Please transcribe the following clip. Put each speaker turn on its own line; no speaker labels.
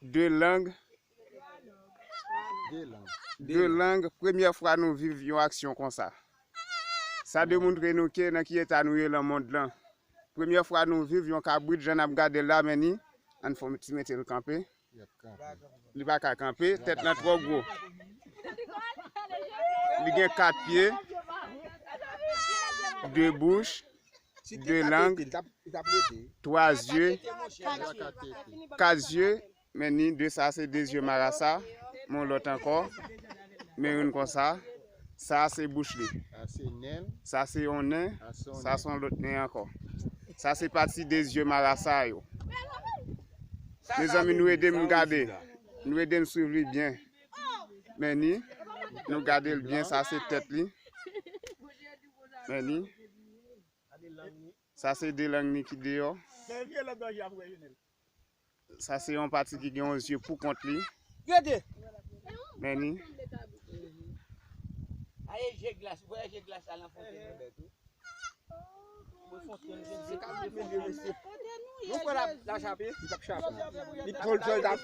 De lang De lang Premyè fwa nou viv yon aksyon konsa Sa demontre nou ke nan ki eta nou ye lan mond lan Premyè fwa nou viv yon kabrit jan nap gadel la men ni Ann fon ti metel kanpe Li pa ka kanpe tèt lan twò gwo Li gen 4 pye 2 bouch 2 lang, 3 zye, 4 zye, men ni 2 sa se 2 zye marasa, men yon lòt ankò, men youn konsa, sa se bouch li, sa se yon nen, sa se yon lòt nen ankò. Sa se pati 2 zye marasa yo. Mezanmi nou ede m gade, nou ede m swiv li byen. Men ni, nou gade l byen, sa se tèt li. Men li Sa se 2 lang li ki deyò Sa se yon pati ki gen yon zye poukont li Men
li